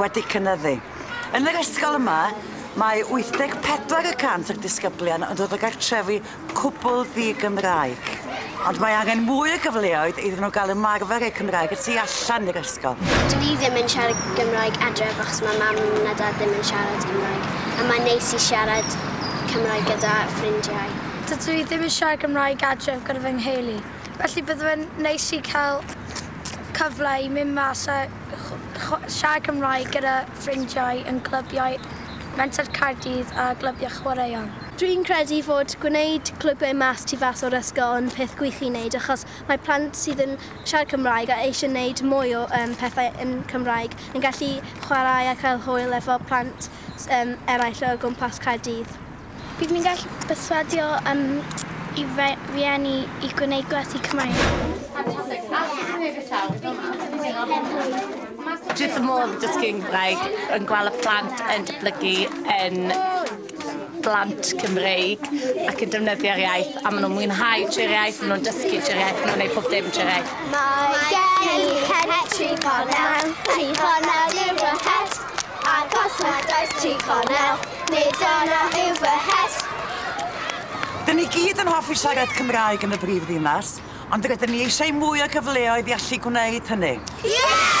wedi cynyddu. Yn yr ysgol yma, mae 84 y cant o'r disgyblion yn dod o gartrefi cwbl ddi-Gymraeg, ond mae angen mwy o gyfleoedd iddyn nhw gael ymarfer eu Cymraeg y tu allan i'r ysgol. Dw i ddim yn siarad Gymraeg adref achos mae mam a dad ddim yn siarad Cymraeg, a mae'n neis i siarad Cymraeg gyda ffrindiau. Dydw i ddim yn siarad Gymraeg adref gyda fy ngheulu, felly bydde fe'n neis i cael cyfle i mynd mas a Siarad Cymraeg gyda ffrindiau yn clybiau Menter Caerdydd a glybiau chwaraeon. Dwi'n credu fod gwneud clybiau mas tu fas o'r ysgol yn peth gwych i wneud achos mae plant sydd yn siarad Cymraeg a eisiau wneud mwy o pethau yn Cymraeg yn gallu chwarae a cael hwyl efo plant eraill o gwmpas Caerdydd. Bydd ni'n gallu perswadio um, i rieni i gwneud gwersi Cymraeg. Dwi wrth modd yn dysgu Cymraeg, yn gweld y plant yn datblygu yn blant Cymreig ac yn defnyddio'r iaith a maen nhw'n mwynhau trwy'r iaith, maen nhw'n dysgu trwy'r iaith, maen nhw'n gwneud pob dim trwy'r iaith. Mae gen i het tri gornel, tri gornel yw fy het. Ac os nad oes tri chornel, nid yna yw fy het. Dyn ni gyd yn hoffi siarad Cymraeg yn y brif ddinas, ond rydyn ni eisiau mwy o gyfleoedd i allu gwneud hynny. Yeah!